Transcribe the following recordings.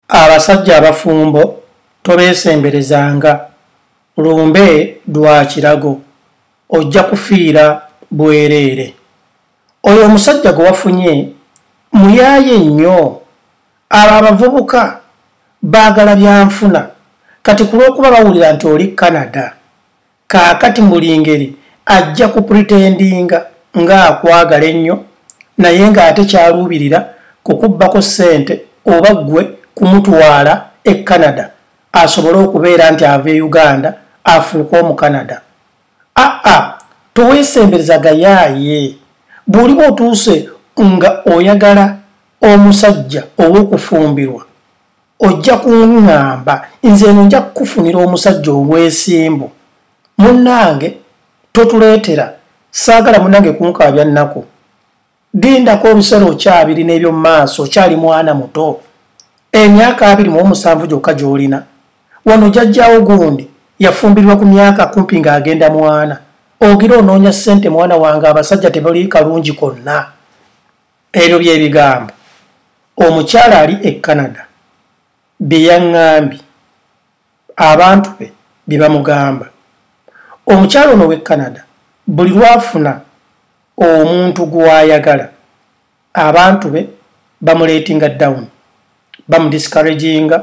Abasajja abafumbo tobeesemberezanga, lumbe lwa kirago, ojja kufiira bwereere. Oyo omusajja gwe wafunye muyaaye nnyo. Abo abavubuka baagala byanfuna kati ku lw'okuba bawulira nti oli Canada kaakati mbuli ngeri ajja ku pretendinga ng'akwagala ennyo naye ng'ate kyaluubirira kukubbako ssente oba ggwe kumutwala e canada asobole okubeera nti ava e uganda afuuka omu canada aa toweesembereza gayaaye bw'oliba otuuse nga oyagala omusajja ow'okufumbirwa ojja kuŋŋamba nze eno nja kukufunira omusajja ow'esimbu munnange totuleetera saagala munnange kunkaabya nnaku lindako olusera okyabiri n'ebyo maaso okyali mwana muto emyaka abiri mu omusanvu gyokka gy'olina wano jajjawo gundi yafumbirwa ku myaka kumpi ng'agenda mwana ogira onoonya ssente mwana wange abasajja tebali kalungi konna Ebyo bye bigambo omukyala ali e Canada bye yaŋŋambye abantu be bye bamugamba. Omukyala ono w'e Canada buli lw'afuna omuntu gw'ayagala abantu be bamuleetinga dawuni, bamudisikareginga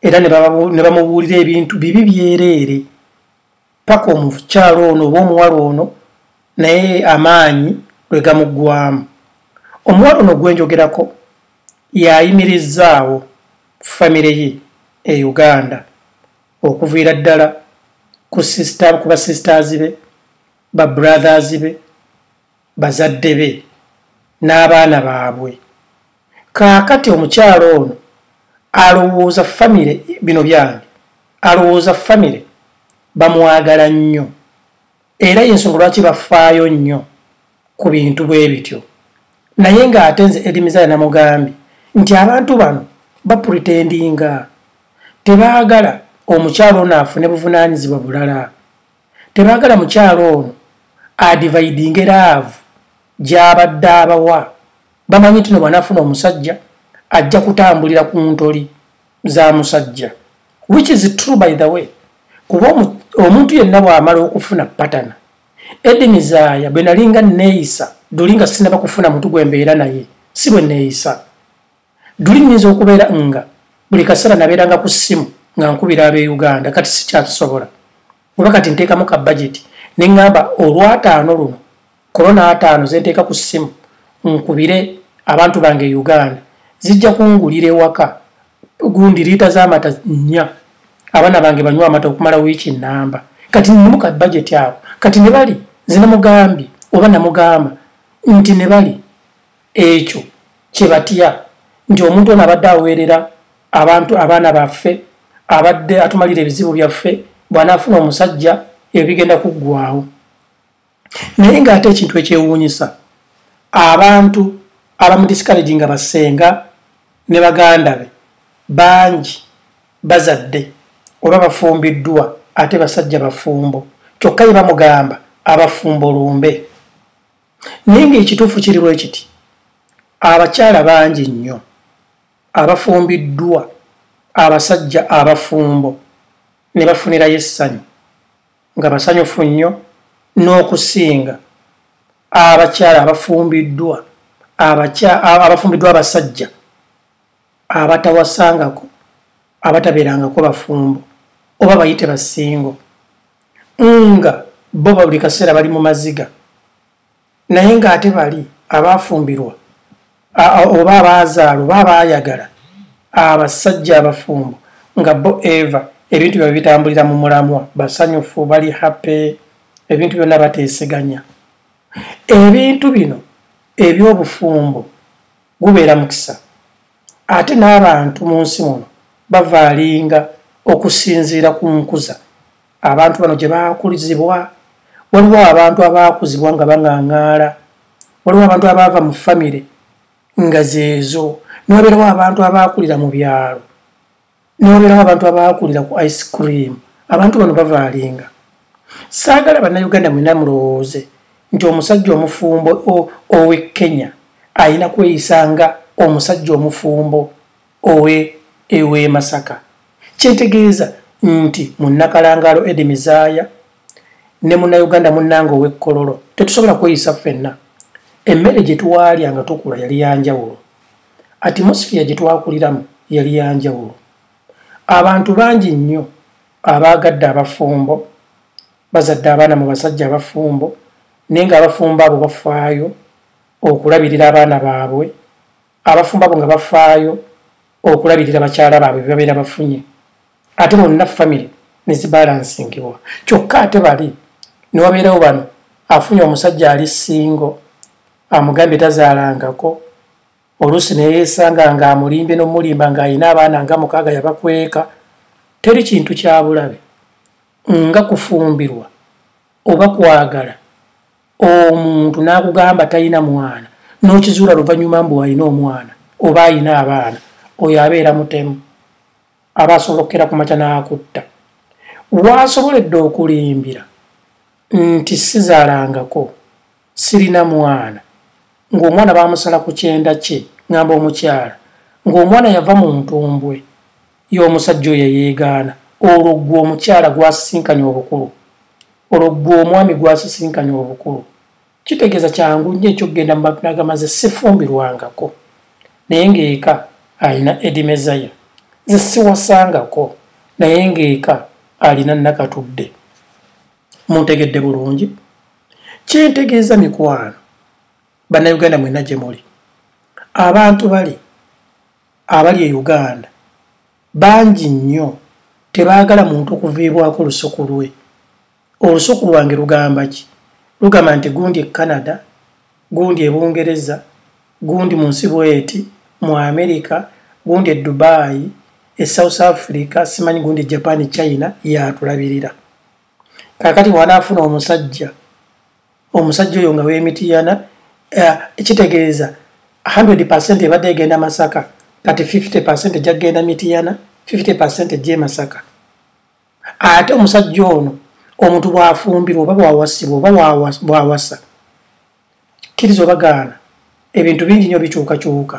era ne bamubuulira ebintu bibi byereere. paka omukyalo ono oba omuwala ono naye amaanyi lwe gamuggwamu omuwala ono gwenjogerako yayimirizaawo famire ye e uganda okuviira ddala ku sister ku ba sisters be ba brothers be bazadde be n'abaana baabwe kaakati omukyalo ono alowooza famire bino byange alowooza famire bamwagala nnyo era yensonga lwaki bafaayo nnyo ku bintu bwe bityo naye ng'ate nze edimizaya namugambye nti abantu bano bapretendinga tebaagala omukyalo ono afune buvunaanyizibwa bulala tebagala mukyalo ono adivaidinge laavu gyabadde abawa bamanyi tino bwanafuna omusajja ajja kutambulira ku ntoli za musajja which is true by the way kuba omuntu yenna bwamala okufuna patana edini zaaya bwe nalinga neeyisa dulinga sinaba kufuna muntu gwe mbeera naye si bwe neeyisa duli nyinza okubeera nga buli kaseera nabeeranga ku ssimu nga nkubira ab'e uganda kati sikyakisobola oba kati nteekamu ka bajeti ne ŋŋamba olwataano luno korona ataano ze nteeka ku ssimu nkubire abantu bange e uganda zijja kungulira ewaka gundi liita z'amata nnya abaana bange banywa amata okumala wiiki nnamba kati nnimu ka bajeti ako kati ne bali nze namugambye oba namugamba nti ne bali ekyo kye batya nti omuntu ono abadde aweerera abantu abaana baffe abadde atumalira ebizibu byaffe bw'anaafuna omusajja ebyo bigenda kuggwawo naye ng'ate ekintu ekyewuunyisa abantu abamudisikalegi nga basenga ne baganda be bangi bazadde oba bafumbiddwa ate basajja bafumbo kyokka ye bamugamba abafumbo lumbe naye ng'ekituufu kiri bwe kiti abakyala bangi nnyo abafumbiddwa abasajja abafumbo ne bafunirayo essanyu nga basanyufu nnyo n'okusinga abakyala abafumbiddwa abafumbiddwa abasajja abatawasangako abatabeerangako bafumbo oba bayite basingo nga bo buli kaseera bali mu maziga naye ng'ate bali abaafumbirwa oba abaazaala oba abaayagala abasajja abafumbo nga bo eva ebintu byabwe bitambulira mu mulamwa basanyufu bali hape ebintu byonna bateeseganya ebintu bino eby'obufumbo gubeera mukisa ate n'abantu mu nsi muno bavaalinga okusinziira ku nkuza abantu bano gye baakulizibwa waliwo abantu abaakuzibwa nga baŋaŋaala waliwo abantu abaava mu famire nga zeezo newabeerawo abantu abaakulira mu byalo newabeerawo abantu abaakulira ku ice cream abantu bano bavaalinga saagala bannayuganda mwena mulowooze nti omusajja omufumbo owe kenya alina kweyisa nga omusajja omufumbo owe ewe masaka kyetegeeza nti munnakalangaalo edi mizaaya ne munnayuganda munnanga ow'ekkololo tetusobola kweyisa ffenna emmere gye twalya nga tukula yali yanjawulo atimosphere gye twakuliramu yali ya njawulo abantu bangi nnyo abaagadde abafumbo bazadde abaana mu basajja abafumbo naye nga abafumbo abo bafaayo okulabirira abaana baabwe abafumbo abo nga bafaayo okulabirira bakyala baabwe bebabeera bafunye ate bonna famiry nezibalansinkibwa kyokka ate bali newabeerawo bano afunye omusajja ali singo amugambye tazaalangako oluusi neyesanga nga amulimbye nomulimba nga alina abaana nga mukaaga yabakweka teri kintu kyabulabe nga kufumbirwa oba kwagala omuntu nakugamba talina mwana nokizuula luvanyuma mbu alina omwana oba alina abaana oyo abeera mutemu aba asobola okukera kumakya nakutta waasoboledde okulimbira nti sizalangako sirina mwana ng'omwana bamusala ku kyenda kye ngamba omukyala ng'omwana yava mu ntumbwe y'omusajja oyo yeyeegaana olwo ggwe omukyala gwasisinkanya obukulu olwo ggwe omwami gwasisinkanya obukulu kitegeeza kyangu nnyo ekyokugenda mu mabinagamaze sifumbirwangako naye ng'eka alina edimezaya ze siwasangako naye ng'eka alina nakatudde muntegedde bulungi kyentegeeza mikwano bannayuganda mwena gye muli abantu bali abali e uganda bangi nnyo tebaagala muntu okuviibwako lusuku lwe olusuku lwange lugamba ki lugamba nti gundi e canada gundi e bungereza gundi mu nsi bweti mu america gundi e dubai e south africa simanyi gundi e japan e china yatulabirira kakati bwanaafuna omusajja omusajja oyo nga wemitiyana eh, kitegeeza 100 percent ebadde egenda masaka kati 50 percent ejja kugenda mitiyana 50 percent ejja emasaka ate omusajja ono omuntu bwafumbirwa oba bwawasibwa oba bwawasa kkiriza obagaana ebintu bingi nyo bikyukakyuka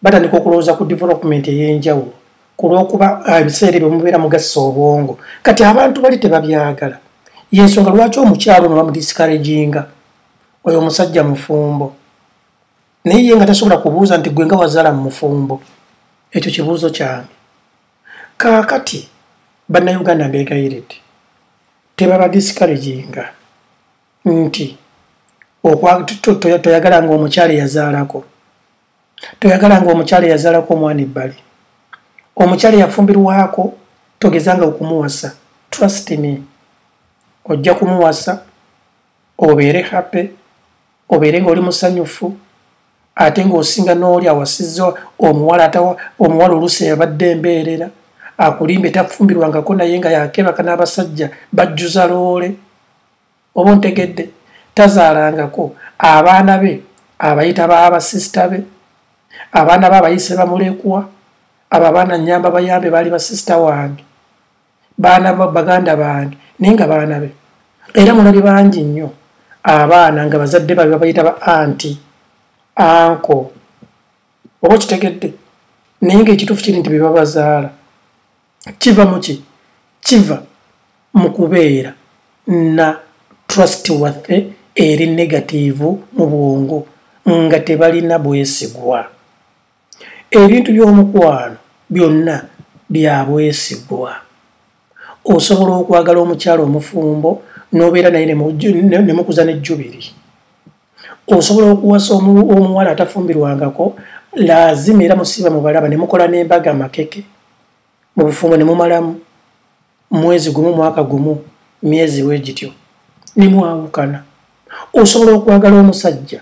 batandika okulowooza ku development eyenjawulo ku lwokuba ah, ebiseera ebyo mubeera mugassa obwongo kati abantu bali tebabyagala yensonga lwaki omukyalo no bamudiscouraginga oyo omusajja mufumbo naye ye nga tasobola kubuuza nti gwe nga wazala mu mufumbo ekyo kibuuzo kyange kaakati bannayuganda mbeegayiridde tebaba discouraginga nti toyagala nga omukyala eyazaalako toyagala nga omukyala eyazaalako omwana ebbali omukyala eyafumbirwako togezanga okumuwasa trust me ojja kumuwasa obeere happy obeere nga oli musanyufu ate ng'osinga n'oli awasizza omuwala ata omuwala oluusi yabadde embeerera akulimbe tafumbirwangako naye nga yakebaka n'abasajja bajjuza loole oba ontegedde tazaalangako abaana be abayita baabasisita be abaana be abayise bamulekwa abo abaana nyamba bayambe baali basisita wange baana baganda bange naye nga baana be era mulabye bangi nnyo abaana nga bazadde babe babayita ba anti anko oba okitegedde naye nga ekituufu kiri nti bebabazaala kiva muki kiva mu kubeera na trust waffe eri negatiivu mu bwongo nga tebalina bwesigwa ebintu by'omukwano byonna byabwesigwa osobola okwagala omukyalo omufumbo n'obeera naye ne mukuza ne jubiri osobola okuwasa omuwala atafumbirwangako laazima era musiiba mubalaba ne mukola n'embaga makeke mu bufumbo ne mumalamu mwezi gumu mwaka gumu myezi bwe gityo ne mwawukana osobola okwagala omusajja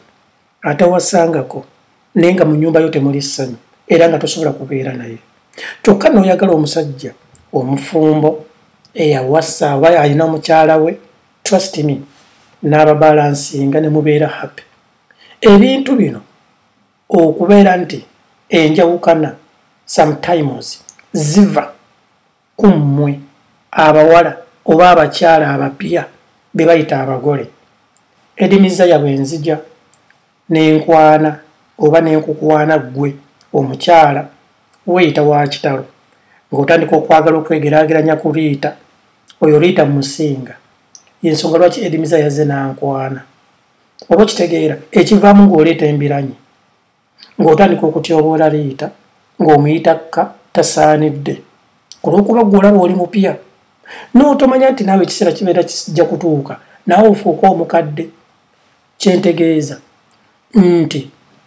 atawasangako naye nga mu nyumba yo temuli ssanyu era nga tosobola kubeera naye kyokka nooyagala omusajja omufumbo eyawasa oba alina mukyala we trust me n'ababalansinga ne mubeera happy ebintu bino okubeera nti enjawukana sometimes ziva ku mmwe abawala oba abakyala abapya be bayita abagole edimizaya bwe nzija n'enkwana oba n'enkukwana ggwe omukyala weeyita wa kitalo ng'otandika okwagala okwegeraageranya ku liita oyo liita musinga yensonga lwaki edimiza yazze n'ankwana oba okitegeera ekivaamu ng'oleeta embiranyi ng'otandika okutyoboola liita ng'omuyitakka tasaanidde ku lw'okuba gwe olaba oli mupya n'otomanya nti naawe ekiseera kibeera kijja kutuuka naawe ofuuka omukadde kyentegeeza nti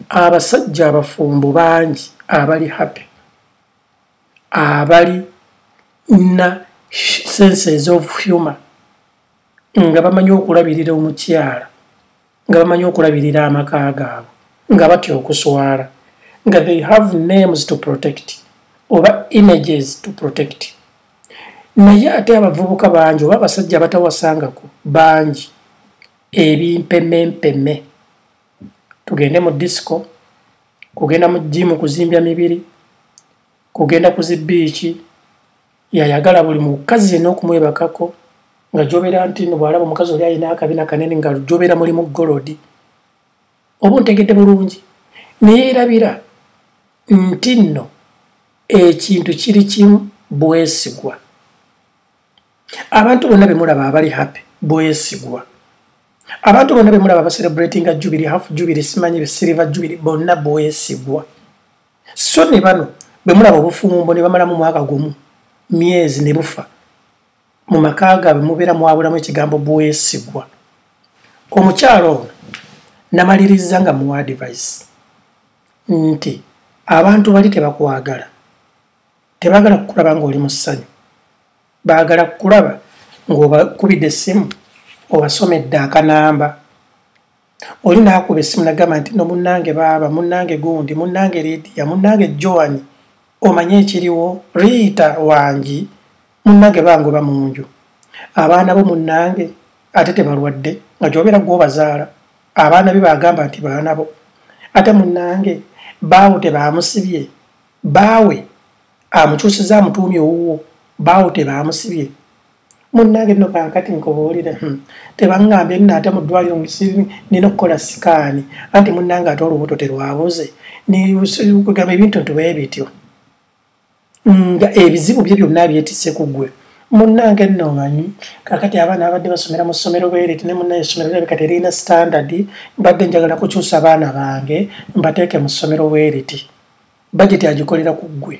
abasajja abafumbo bangi abali happy abali na senses of humor nga bamanyi okulabirira omukyala nga bamanyi okulabirira amaka gaabwe nga batya okuswala nga they have names to protect oba images to protect naye ate abavubuka bangi oba abasajja abatawasangako bangi ebimpemempeme tugende mu disco kugenda mu jimu kuzimbya mibiri kugenda ku zibiiki yayagala buli mukazi yenna okumwebakako nga jobera nti no bwalaba omukazi oli alina akabina kanene nga jobera mulimu golodi oba ontegedde bulungi naye erabira nti nno ekintu kiri kimu bwesigwa abantu bonna bemulaba abali happy bwesigwa abantu bonna bemulaba bacelebratinga jubiri half jubiri simanyi be silver jubiri bonna bwesigwa so ne bano bwe mulaba obufumbo ne bamalamu mwaka gumu myezi ne bufa mu maka gaabwe mubeera mwabulamu ekigambo bwesigwa omukyalo ono namaliriza nga muwa advice nti abantu bali tebakwagala tebagala kukulaba ngaoli mu ssanyu baagala kukulaba ng'obakubidde essimu obasomedde akanamba oli naakuba essimu nagamba nti no munnange baaba munnange gundi munnange lidiya munnange joan omanye ekiriwo riita wangi munnange bangoba mu nju abaana bo munnange ate tebalwadde nga gyobeera gwobazaala abaana be bagamba nti baana bo ate munnange baawo tebaamusibye baawe amukyusiza amutuumi owuwo baawo tebaamusibye munnange nno kankati nkubuulire hmm. tebaŋŋambye nno ate mu ddwaliro nina okukola sikaani anti munnange ate olubuto terwabuze kugamba ebintu ntube ebityo nga ebizibu bye byonna byetise ku ggwe munnange nno omanyi kakati abaana abadde basomera mu ssomero bwereti ne munnaye essomero labika terina sitandadi mbadde njagala kukyusa abaana bange mbateeke mu ssomero bwereti bajeti agikolera ku ggwe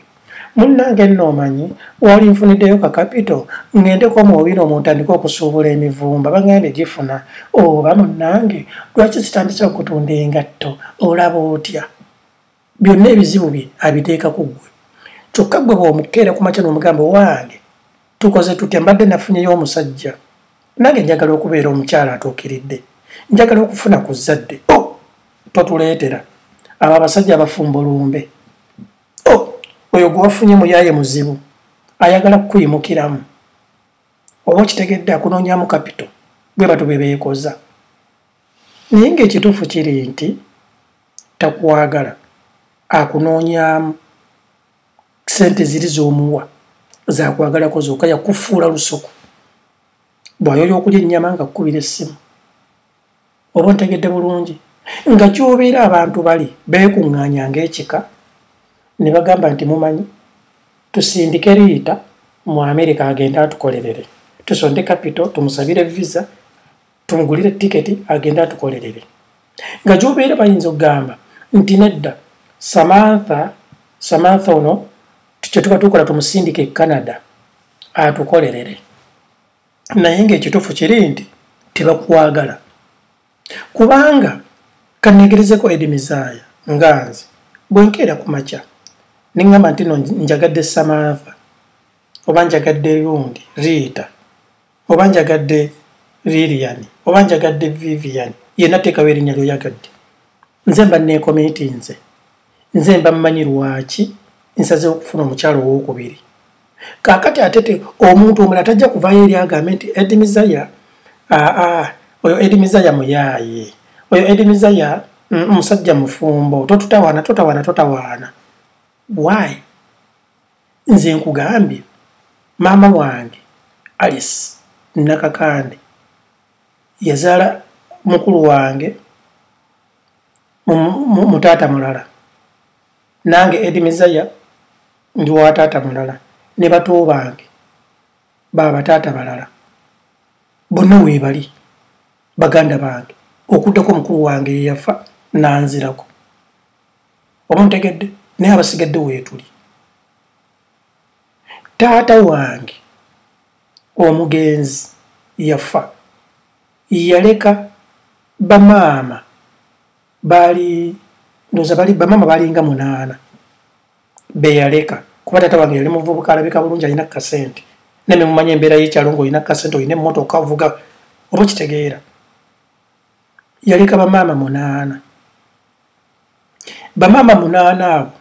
munnange nno omanyi wali nfuniddeyo ka kapito ng'endeko omuwawire omuntandika okusuubula emivumba bagambye gifuna oba munnange lwaki sitandise okutunda engatto olaba otya byonna ebizibu bye abiteeka ku ggwe kyokka ggwe bw'omukeera ku makya n'omugamba owange tukoze tutya mbadde nafunyeyo omusajja nange njagala okubeera omukyala atuukiridde njagala okufuna ku zzadde o oh, totuleetera abo abasajja abafumba olumbe o oh, oyo gwewafunye muyaye muzibu ayagala kukuyimukiramu oba okitegedde akunoonyamu kapito bwe batu be beekoza naye ng'ekituufu kiri nti takwagala akunoonyaamu sente ziri zomuwa zakwagalako zoka yakufuula lusuku bwayoyo okulya ennyama nga kukubira essimu oba ntegedde bulungi nga kyobeera abantu bali beekuŋŋaanya ng'ekika ne bagamba nti mumanyi tusindike riita mu amerika agende atukolerere tusonde kapito tumusabire visa tumugulire tiketi agende atukolerere nga gyobeera bayinza okugamba nti nedda samantha samantha ono kyetuba tukola tumusindika e canada atukolerere naye ngaekitufu kiri nti tebakwagala kubanga kanegerezeko edimizaaya nga nze bwenkeera ku makya neŋgamba nti no njagadde samantha oba njagadde lundi riita oba njagadde lilian oba njagadde vivian yena tekawo erinya lyoyagadde nze mba nekomiti nze nze mba mmanyi lwaki nsaze okufuna omukyalo owokubiri kakati atete omuntu omula tajja kuvayo eri agambe nti edi mizaya aa oyo edi mizaya muyaye oyo edi mizaya mm, musajja mufumbo totutawana totawana totawana why nze nkugambye maama wange alice nakakande yazaala mukulu wange mutaata mulala nange edi mizaya ndi wa taata mulala ne bato bange babataata balala bonna weebali baganda bange okuddako mukulu wange yeyafa nanzirako oba ntegedde naye abasigadde weetuli taata wange omugenzi yafa yaleka bamaama baali ndoza bali bamaama balinga munaana beyaleka kuba taata wange yali muvubuka alabika bulungi alina kasente neme mumanya embeera yekyalo ngaolina kasente olina emmotoka ovuga oba okitegeera yaleka bamaama munaana bamaama munaana abo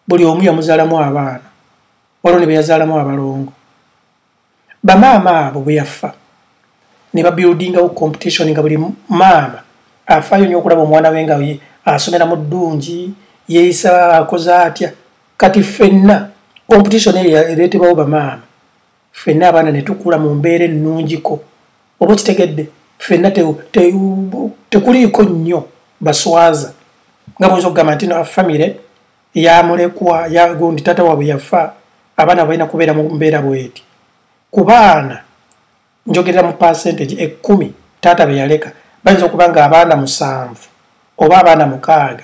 buli omu yamuzaalamu abaana waliwo ne beyazaalamu abalongo bamaama abo bwe yafa ne babuildingawo competition nga buli maama afaayo nyo okulaba omwana we nga asomera mu ddungi yeeyisa akoze atya kati ffenna competition eyo ereetebawo bamaama ffenna abaana ne tukula mu mbeera ennungiko oba kitegedde ffenna tekuliiko nnyo baswaza nga bwoyinza okugamba nti na famire yamulekwa yagundi taata waabwe yafa abaana balina kubeera mu mbeera bweti ku baana njogerera mu percentage ekkumi taata be yaleka bayinza okuba nga abaana musanvu oba abaana mukaaga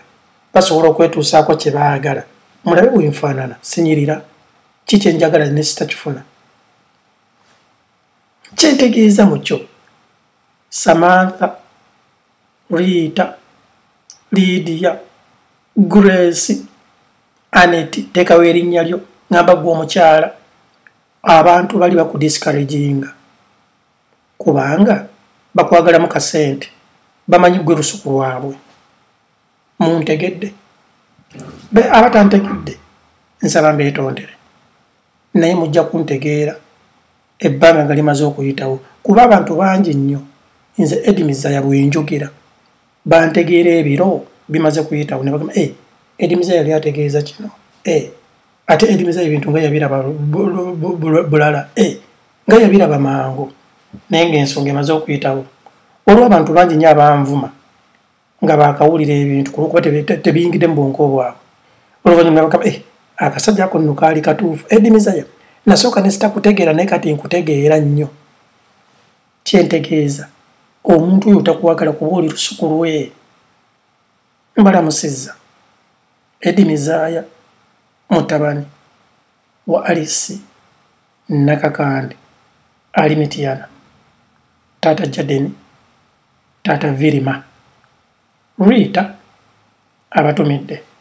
basobola okwetuusaako kye baagala mulabe bwenfaanana sinyirira ki kyenjagala ne sitakifuna kyentegeeza mu kyo samantha riita liidiya grace aneti teekawo erinnya lyo ngamba gwe omukyala abantu bali bakudiscouraginga kubanga bakwagalamu kasente bamanyi gwe lusuku lwabwe muntegedde be aba tantegedde nsaba mbeetondere naye mujja kuntegeera ebbanga nga limaze okuyitawo kuba abantu bangi nnyo nze edimiza ya bwenjogera bantegeera ebiro bimaze kuyitawo ne bagamba eh, edimiza yali ategeeza kino eh, ate edimiza ebintu nga yabiraba bulala eh, nga yabiraba mangu naye ngaensonga emaze okuyitawo olwo abantu bangi nnyo abanvuma nga bakawulira ebintu kulwokuba tebiyingidde mu bwonko obwabwe oluvanyuma nabakaba eh, akasajja ako nno kaali katuufu edimizaya nasooka nesitakutegeera naye kati nkutegeera nnyo kyentegeeza omuntu oyo takwagala kuba oli lusuku lwe mbalamusiza edimizaya mutabani wa alisi nakakande ali mitiyana taata jadeni Taata Virima. Rita abatumidde.